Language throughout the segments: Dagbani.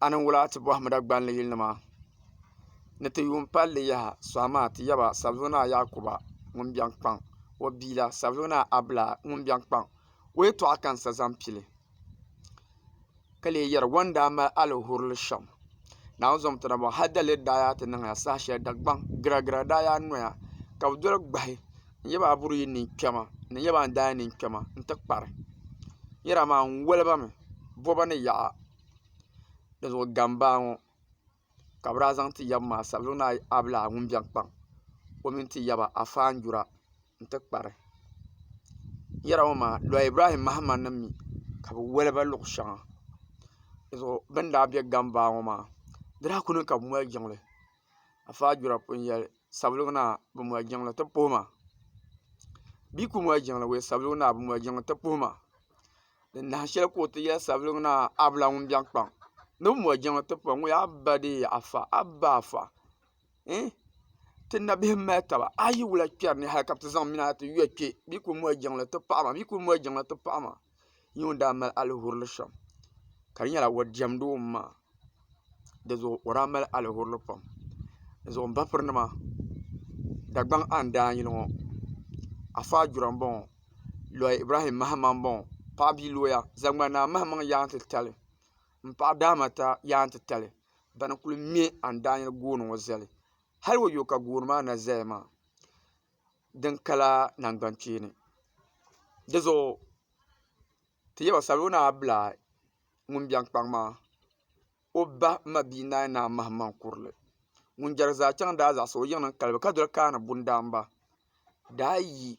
a niŋ wula ti bɔhim Dagbani yilinima ni ti yuun pali li yaha suhi maa ti yaba Sabluunaa Yaakuba ŋun biɛŋ kpaŋ o bia la Sabluunaa Abla ŋun biɛŋ kpaŋ o yɛtɔɣa ka n sa zaŋ pi li ka lee yɛri o ni daa mali alihurili shɛm Naawuni zaŋm ti na bɔŋ hal daliri daa yaa ti niŋya saha shɛli Dagbaŋ giragira daa yaa noya ka bɛ doli gbahi. n yaba a buri yi nin kpɛma ni n yaba a daa nin kpɛma n ti kpari yɛra maa n woli ba mi boba ni yaɣa di zuɣu gambaa ŋɔ ka bi daa zaŋ ti yaba maa sabilim ni a bi lahi ŋun biɛni kpaŋ o mini ti yaba a faanjura n ti kpari yɛra ŋɔ maa Lɔɔ Ibrahim Mahama nim mi ka bi woli ba luɣu shɛŋa di zuɣu bin daa bɛ gambaa ŋɔ maa di daa ku niŋ ka bi mali jiŋli a faanjura pun yɛli sabuligi naa bi mɔri jiŋli ti puhi ma bɛ yi kuli mɔri jiŋli wuhi sabuligi naa bi mɔri jiŋli ti puhi ma ni nahi shɛli ka o ti yɛli sabuligi naa a bi lahi wum biɛŋ kpaŋ ni bi mɔri jiŋli ti puhi ma a ba deei afa a ba afa ee ti nabihi mali taba a yi wula kpɛri ni hali ka bi ti zaŋ mini a ti yɔ kpɛ bɛ yi kuli mɔri jiŋli ti paɣi ma bɛ yi kuli mɔri jiŋli ti paɣi ma. nyɛ ŋun daa mali alihurili shɛm ka di nyɛla o diɛmdi o maŋa dizuɣu o daa mali alihurili pam dizuɣu n ba piri nima Dagbaŋ a ni daa nyili ŋɔ Afa Gyura n boŋo Loy Ibrahim Mahama n boŋo paɣa bia luya zaŋma naa mahimaŋ yaa n ti tali n paɣa daa ma ta yaa n ti tali bani kuli mɛ a ni daa nyili gooni ŋɔ zali hali wayo ka gooni maa na zaya maa din kala nangban kpeeni di zuɣu ti yaba salona bila ŋun biɛŋ kpaŋ maa o ba mabia naai naai mahim maŋ kurili ŋun jɛri zaa chaŋ daa zaɣasi o yiŋ niŋ kalibu ka doli kaani bundaamba daa yi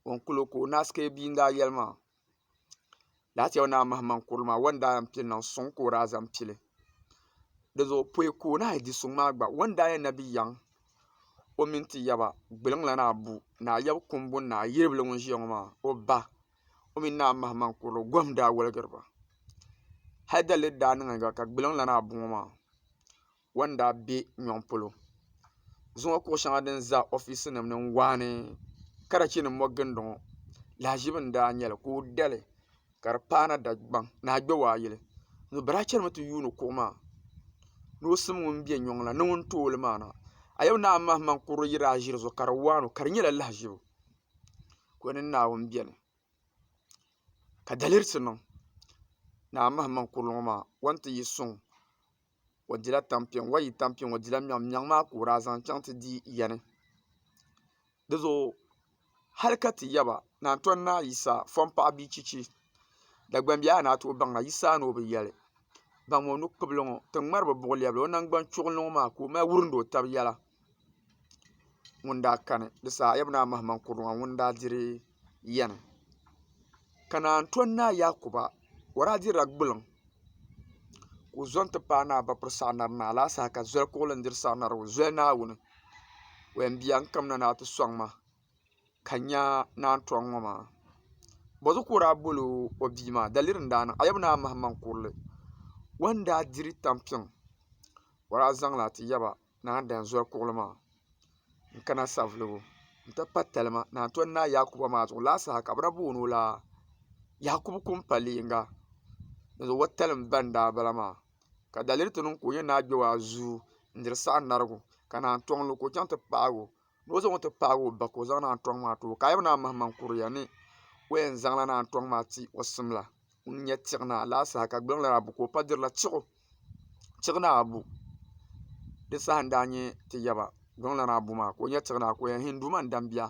o ni kuli o ka o naasikaya bia n daa yɛli maa Laati yɛli naa mahimaŋ kurili maa o ni daa yɛn pili niŋ suŋ ka o daa zaŋ pili di zuɣu pɔi ka o lahi di suŋ maa gba o ni daa yɛn na bi yaŋ o mini ti yaba gbuluŋ la naa bu naa yab kumbu ni naa yiribili ŋun ʒiya ŋɔ maa o ba o mini naa mahimaŋ kurili o gohim daa woligiri ba hali daliri daa niŋ gba ka gbuluŋ la naa bu ŋɔ maa wan daa be nyɔŋ polo. Zuŋɔ kuɣ shɛŋa din za ofiisinim ni n-waai ni karachinim ŋɔ gindɔŋɔ lahiʒibu n-daa nyɛ li ka o da li ka di paana Dagbaŋ ni a gbɛwaayili. Bɛ daa chanimi ti yuuni kuɣ maa ni o sim ŋun be nyɔŋ la ni ŋun tooi li maa na. A yɛm ni a mahimaŋ kurili yi daa ʒi di zuɣu ka di waai ni o ka di nyɛla lahiʒibu ka o mini Naawuni beni ka dalirisi niŋ ni a mahimaŋ kurili ŋɔ maa wan ti yi suŋ. o dila tampiŋ wa yi tampiŋ o dila miɛɣu miɛɣu maa ka o daa zaŋ chaŋ ti di yani di zuɣu hali ka ti yaba ni a ni tɔni naai yisa fɔn paɣa bia chichi Dagbaŋ bihi a ni a tooi baŋda yisa a ni o bi yɛli baŋmi o nu kpubili ŋɔ ti ŋmari bi buɣu lɛbigi o nangbaŋ chuɣili ni ŋɔ maa ka o mali wurimdi o tabi yɛla. ŋun daa kani di saha a yɛli mi ni a mahimaŋ kurili maa ŋuni n daa diri yɛni ka naan tɔni ni a Yaakuba o daa dirila gbuliŋ ka o zo n ti paai ni a ba piri saɣa nari ni a lahi saha ka zoli kurili n diri saɣa nari ŋɔ zoli naawuni wɛn bia n kamina ni a ti sɔŋ ma ka n nya naan tɔni ŋɔ maa bozuɣu ka o daa boli o bia maa daliri n daa niŋ a yɛli mi ni a mahimaŋ kurili o ni daa diri tampiŋ o daa zaŋ li a ti yaba Naa Danzɔri kuɣili maa n kana savulibu n ti pa talima naan tɔni Naa Yaakuba maa zuɣu lala saha ka bɛ daa booni o la Yaakubu Kumpaliyiŋga ni zuɣu watalim ba n daa bala maa ka daliri ti niŋ ka o nyɛ Naa Gbewaa zuu n diri saha narigu ka naan tɔŋ lu ka o chaŋ ti paagi o ni o zaŋɔ ti paagi o ba ka o zaŋ naan tɔŋ maa ti o ka a yaba naa mahima n-kuriya ni o yɛn zaŋla naan tɔŋ maa ti o simla ŋun nyɛ tiɣ naa lala saha ka gbuliŋ lana abu ka o pa dirila tiɣu tiɣ naa abu di saha n-daa nyɛ ti yaba gbuliŋ lana abu maa ka o nyɛ tiɣ naa ka o yɛn hinduuma n-dambiya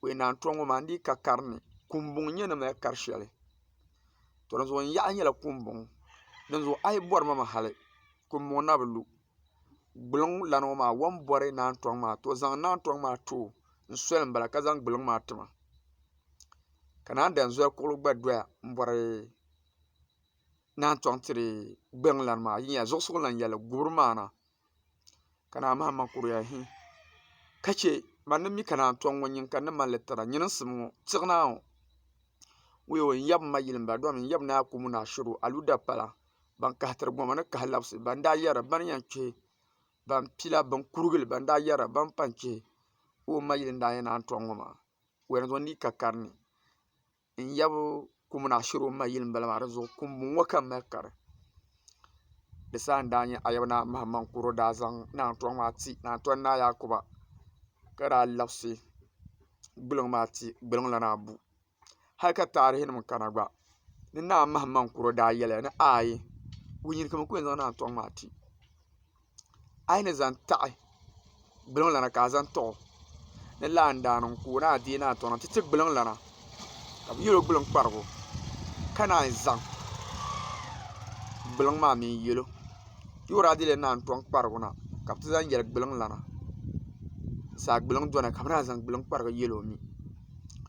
o yɛn naan tɔŋ ŋɔ maa n di yi ka karini kuumbuŋ n-nyɛ ni mali kar shɛli to dinzuɣu n yaɣi nyɛla kuumbuŋ dinzuɣu a yi bɔri ma mi hali kuumbuŋ na bi lu Gbuliŋ lana ŋɔ maa o ni bɔri naan tɔŋ maa ti o zaŋ naan tɔŋ maa ti o n soli n bala ka zaŋ gbuliŋ maa ti ma ka naan dan zoli kuɣili gba doya n bɔri naan tɔŋ tiri gbuliŋ lana maa a yi nya zuɣusigu n lan yɛli gubiri maa na ka naan Mahama kuriya hi ka che man ni mi ka naan tɔŋ ŋɔ nyin ka n ni mali li tira nyini n simi ŋɔ tiɣi naa ŋɔ wuyo n yab m ma yili m ba domi n yab ni a kumu ni a shiri o aluda pala. ban kahi tiri goma ni kahi labisi ban daa yɛra ba ni yɛn kpɛ ban pila bin kurigili ban daa yɛra ba ni pun kpɛ ka o ma yili n daa yɛn naan tɔŋ ŋɔ maa o yɛn zaŋ liiga karili n yab kum ni a shiri o ma yili n bala maa dizuɣu kum bɔŋɔ ka n mali kari di saha n daa nyɛ ayaba naa mahaman kuro daa zaŋ naan tɔŋ maa ti naan tɔn naa yaakuba ka daa labisi gbuluŋ maa ti gbuluŋ lana abu hali ka taarihi nim kana gba ni Naa Mahaman Kuro daa yɛliya ni ayi wuhi nyin ka bɛ ku yɛn zaŋ Naa Tɔŋ maa ti a yi ni zaŋ taɣi gbuliŋlana ka a zaŋ tɔɣ o ni lahi daa niŋ ka o ni a deei Naa Tɔŋ na ti ti gbuliŋlana ka bɛ yɛl o gbuliŋkparigu ka naan zaŋ gbuliŋ maa mi n-yɛl o ti o daa deeila Naa Tɔŋ kparigu na ka bɛ ti zaŋ yɛli gbuliŋlana saa gbuliŋ dɔna ka bɛ naan zaŋ gbuliŋkparigu yɛl o mi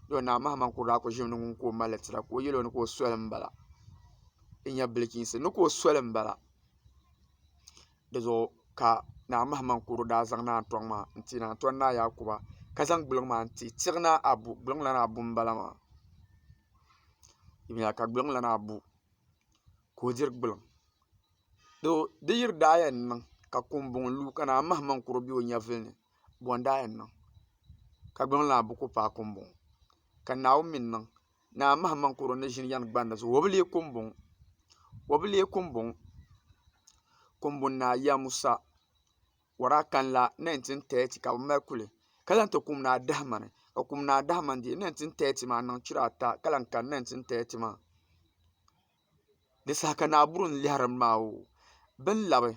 Yoo naa Mahamani kuli daa ʒimi ni ŋun ka o mali tira ka o yɛl o ni ka o soli m-bala n nya bilichiinsi ni ka o soli m-bala di zuɣu ka naa Mahamani kuli daa zaŋ naa tɔŋ maa n-ti naa tɔn naa Yaakuba ka zaŋ gbuliŋ maa n-ti tiɣ naa Abu gbuliŋ lana Abu m-bala maa yuli ya ka gbuliŋ lana Abu ka o diri gbuliŋ di yiri daa yɛn niŋ ka kuŋbuŋ lu ka naa Mahamani kuli be o nyɛvili ni bɔndaa yɛn niŋ ka gbuŋ lana buku paai kum bɔŋɔ ka Naawuni mi n-niŋ ni a mahim maŋ kɔro ni ʒini yɛn gbanda zuɣu o bi leei kum bɔŋɔ o bi leei kum bɔŋɔ Kumbunaa ya Musa wara kanla 1930 ka bɛ mali kuli ka lan ti kum Naa Dahimani ka kum Naa Dahimani deei 1930 maa n-niŋ chira ata ka lan kani 1930 maa Di saha ka Naa Buru ni lɛhirimi maa o bin labi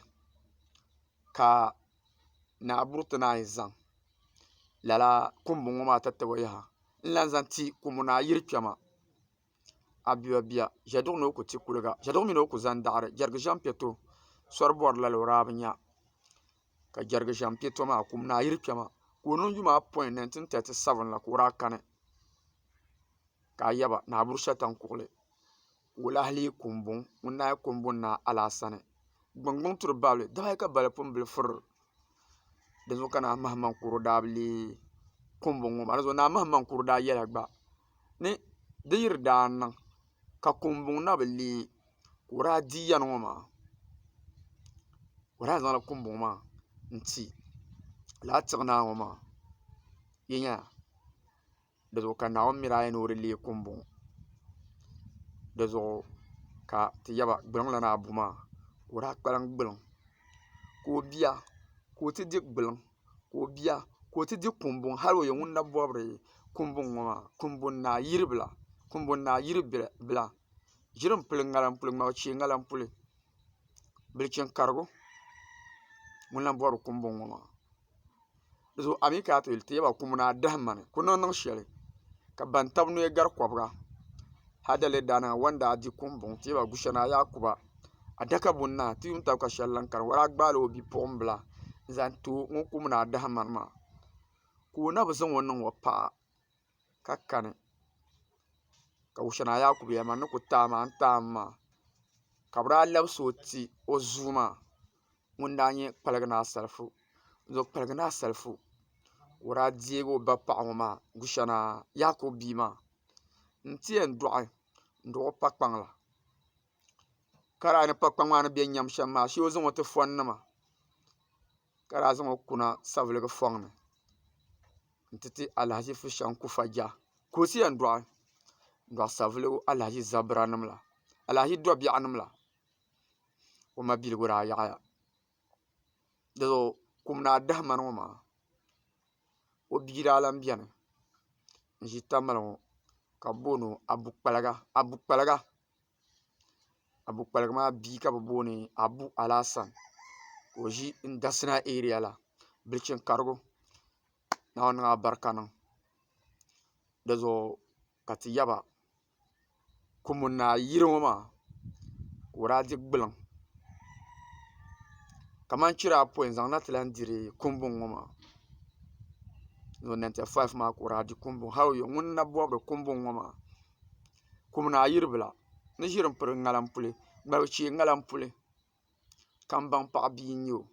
ka Naa Buru ti naan yi zaŋ lala kuŋbu ŋɔ maa tatabo yaha n lahi zaŋ ti Kumu Naa yili kpɛma Abiwa bia Ʒɛduɣu ni o ku ti kuliga Ʒɛduɣu mini o ku zaŋ daɣiri Jɛrigi ʒɛm piɛ to sɔri bɔri lala o daa bi nya ka Jɛrigi ʒɛm piɛ to maa Kumu Naa yili kpɛma ka o niŋ yuma apɔin 1937 la ka o daa kani. ka a yaba ni a buri shɛtan kuɣili. Wula hali yi ku m-buŋ, ŋun naai ku m-buŋ ni a alaha sani. Gbuŋgbuŋ turi babili, dama yi ka bali pun bili fir. Dinzuɣu ka Naa Mahimaŋkuro daa bi leei kuŋbuŋ ŋɔ maa. Dinzuɣu Naa Mahimaŋkuro daa yɛla gba ni di yi di daa niŋ ka kuŋbuŋ na bi leei ka o daa di yɛn ŋɔ maa, o daa yɛn zaŋla kuŋbuŋ maa n-ti lala tiɣ naa ŋɔ maa. Yi nya? di zuɣu ka Naawuni miri aya ni o di leei kum bɔŋɔ di zuɣu ka ti yaba gbuluŋ la ni a bu maa ka o daa kpalim gbuluŋ ka o bia ka o ti di gbuluŋ ka o bia ka o ti di kum bɔŋɔ hali o yɛn ŋun na bɔbiri kum bɔŋɔ maa kumbɔŋ naa yiri bila kumbɔŋ naa yiri bila ʒiri m-pili ŋariŋ m-pili ŋmabo chɛ ŋariŋ m-pili bilichini karigu ŋun lahi bɔbiri kumbɔŋ ŋɔ maa dizuɣu a mi ka a ti yuli teeba kumu ni a dahi mani ku niŋ niŋ shɛli ka ban tabi noya gari kɔbiga hali dali daa nima wan daa di kuŋ buŋ teeba gushɛ ni a yaa kuba adaka buni na ti yuun tabi ka shɛli lahi kani wala a gbaai o bipuɣimbila n zaŋ ti o ŋun kubu ni a dahi mani maa ka o na bi zaŋ o niŋ o paɣa ka kani ka wuchɛna Yaakubu yɛli ma n ni ku taai maa n taai mi maa ka bi daa labisi o ti o zuu maa ŋun daa nyɛ kpaligi ni asalifu n ŋɔ kpaligi ni asalifu ka o daa deegi o ba paɣa ŋɔ maa Gushɛna Yaakubu bia maa n ti yɛn dɔɣi n dɔɣi o pa kpaŋ la ka di a yi ni pa kpaŋ maa ni bɛ nyam shɛm maa shee o zaŋ o ti fɔn nima ka daa zaŋ o kuna saviligi fɔŋ ni n ti ti Alahaji Fushɛŋ Kufa Jah ka o ti yɛn dɔɣi n dɔɣi savelugu Alahaji Zabira nim la Alahaji Dɔbiɛɣu nim la o mabiligu daa yaɣiya doo kum ni adahimani ŋɔ maa o bia daa lahi bɛni n ʒi tamali ŋɔ ka bi booni o abu kpaliga Abu kpaligi maa bia ka bi booni Abu Alasan ka o ʒi n dasina eriya la birichin karigu naawuni niŋ a barika niŋ dizuɣu ka ti yaba kuŋ n ni a yiri ŋɔ maa ka o daa di gbiliŋ kamani chira apoin zaŋ na ti lahi diri kumbuŋ ŋɔ maa ni o nɛnta faif maa ka o daa di kumbuŋ hali o yuli ŋuni n na bɔbiri kumbuŋ ŋɔ maa kum ni ayiribila ni ʒiri n piri ŋarim puli ŋmari chee ŋarim puli kanbaŋ paɣa bia n nyɛ o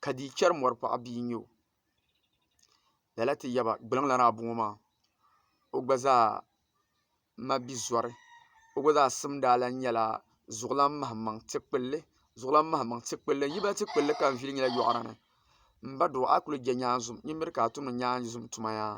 ka dii chɛri mɔri paɣa bia n nyɛ o lala ti yaba gbiriŋ lana abɔŋɔ maa o gba zaa ma bi zɔri o gba zaa simdi a lan nyɛla zuɣulan mahammaŋ ti kpulli zuɣulan mahammaŋ ti kpulli n yi ba ti kpulli ka n viiri nyɛla yoɣu rani n ba doo a yi kuli je nyaanzum nyin miri ka a tumdi nyaanzum tuma yaa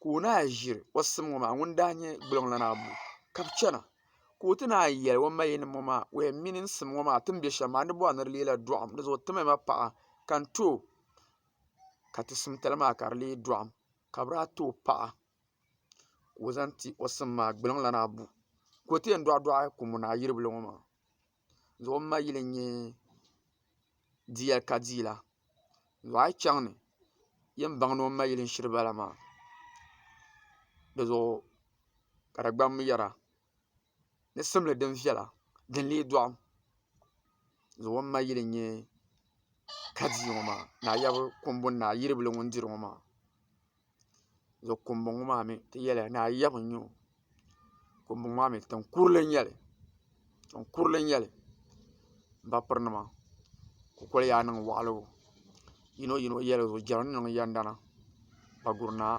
ka o ni a ʒiri o sim ŋɔ maa ŋuni daa nyɛ gbuliŋlana abu ka bɛ chana ka o ti ni a yɛli o mayin nim ŋɔ maa o yɛn mini n sim ŋɔ maa ti ni be shɛm maa n ni bɔri ni di leela dɔɣim di zuɣu o timiya ma paɣa ka n ti o ka ti simtali maa ka di lee dɔɣim ka bɛ daa ti o paɣa ka o zaŋ ti o sim maa gbuliŋlana abu ka o ti yɛn dɔɣidɔɣi ka o mini a yiri bili ŋɔ maa. zuɣu ma yili n nyɛ diya ka dii la zuɣu a yi chaŋ ni yɛn baŋ ni o ma yili n shiri ba la maa di zuɣu ka di gbaŋ yɛra ni simli din viɛla din lee dɔɣim zuɣu o ni ma yili n nyɛ ka dii ŋɔ maa ni a yaba kumbuni ni a yiribili ŋun diri ŋɔ maa. Kumbɔŋɔ maa mi ti yɛli ni a yɛm n-nyɛ o. Kumbɔŋɔ maa mi tiŋ kurili n-nyɛ li. M ba pirinima kukoli yaa niŋ waɣiligu. Yino yino yɛligu jɛra ni niŋ yɛndana Paguri Naa.